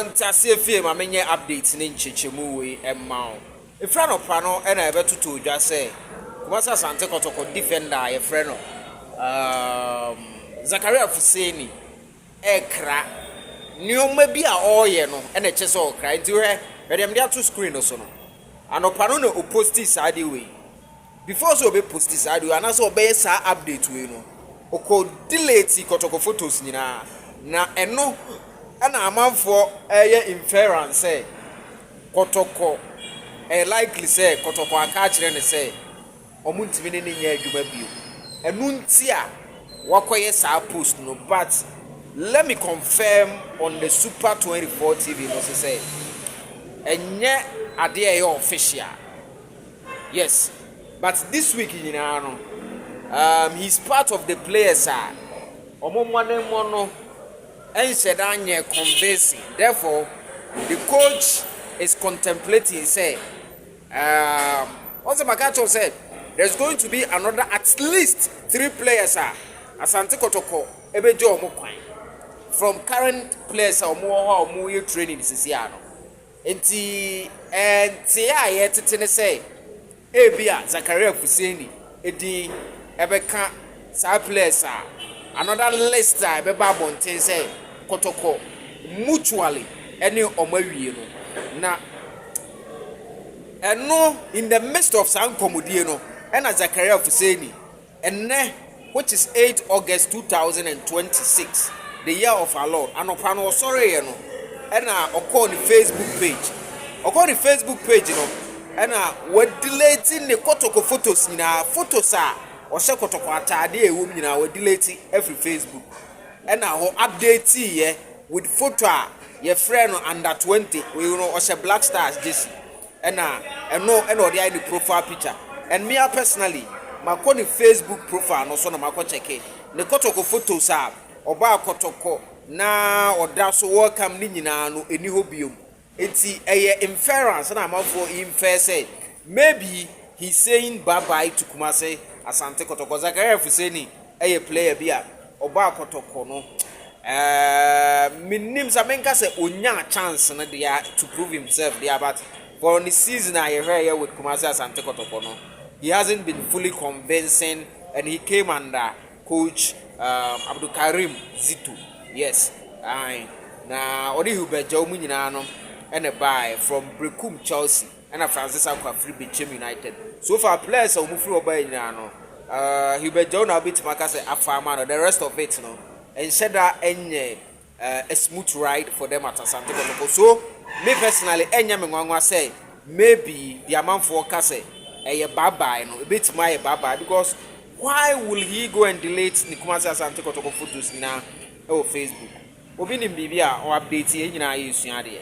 Nteaseɛ fie ma menyɛ update ne nkyekyɛmu wei mma wo. Ɛfiri anɔpa no na yɛbɛtotoo dwa sɛ Kumasi Asante Kɔtɔkɔ defender a yɛfrɛ no um, Zakaria Fuseni ɛkra. Nneɛma bi a ɔreyɛ no na ɛkyɛ sɛ ɔkra. Nti hwɛ, hwɛ deɛ mede ato screen no so no. Anɔpa no na ɔposti saa de wei. Before sɛ ɔbɛ posti saa ade wei anaasɛ ɔbɛyɛ saa update wei no ɔkɔ deleti kɔtɔkɔ photos nyinaa na ɛno ɛna amanfoɔ ɛyɛ inference sɛ kɔtɔkɔ ɛyɛ likely sɛ kɔtɔkɔ aka akyerɛ no sɛ ɔmo ntumi ne no nyɛ adwuma bio ɛno nti a wakɔyɛ saa post no but let me confirm on the super 24 tv no so sɛ ɛnyɛ adeɛ ɛyɛ official. Yes but this week nyinaa no um he's part of the players a ɔmo mmɔdemmɔ no nhyɛda nyɛ convincing therefore the coach is contemplating sɛ um ɔsɛ maka kyɛw sɛ there's going to be another at least three players a Asante Kɔtɔkɔ ɛbɛgye ɔmo kwan from current players a ɔmo wɔ hɔ a ɔmo yɛ training sisi ano. Enti, nteɛ a yɛretete ne sɛ ebia Zakaria Fuseni din bɛka saa players a another list a ɛbɛba abɔnten sɛ Kɔtɔkɔ mutually ne wɔn awie no. Na ɛno in the midst of saa nkɔmmɔdie no, ɛna Zakaria Fuseni. Ɛnnɛ, which is eight August two thousand and twenty six, the year of our Lord, anɔpa no ɔsɔreeɛ no, ɛna ɔkɔɔ ne Facebook page. Ɔkɔɔ ne Facebook page no, ɛna wadelete ne kɔtɔkɔ photos nyinaa. Photos a ɔhyɛ kɔtɔkɔ ataadeɛ a ɛwɔ mu nyinaa, wadelete afiri Facebook. Ɛna hɔ updateeɛ with photo a yɛfrɛ no under twenty, wei no ɔhyɛ Black Stars jersey. Ɛna ɛno ɛna ɔde ayɛ ne profile picture and me ara personally makɔ ne Facebook profile no so na makɔ kyɛke ne kɔtɔkɔ photos a ɔbaa kɔtɔkɔ na ɔda so welcome ne nyinaa no ɛni hɔ biom nti ɛyɛ inference na amanfoɔ infer sɛ maybe he's saying bye bye to Kumasi Asante kɔtɔkɔ Zakaria Fuseni ɛyɛ player bi a Ɔbaa kɔtɔkɔ no ɛɛm mennim sa menka sɛ ɔnyaa chance no dea to prove himself dea but for ne season a yɛhwɛɛyɛ with Kumasi Asante Kɔtɔkɔ no he hasn't been fully convincing and he came under coach um, Abdulkarim Zito yes ae na ɔne Hubert Gyaw mu nyinaa no ɛna baaɛ from Brekum Chelsea Ɛna Francis Acko afiri Bekyem United. So far players a wɔfiri hɔ baeɛ nyinaa no, uh, Hubert Djou na wobɛtumi aka sɛ afa ama no. The rest of it no, ɛnhyɛ da ɛnyɛ uh, a smooth ride for them at Asante Kotoko. So me personally, ɛnyɛ me nwanwa sɛ maybe the amanfoɔ ka sɛ ɛyɛ bye bye no, ɛbɛtumi ayɛ bye bye because why will he go and delete ne Kumasi Asante Kotoko photos nyinaa ɛwɔ Facebook? Obi nim biribi a ɔ-update yɛn nyinaa yɛsua adeɛ.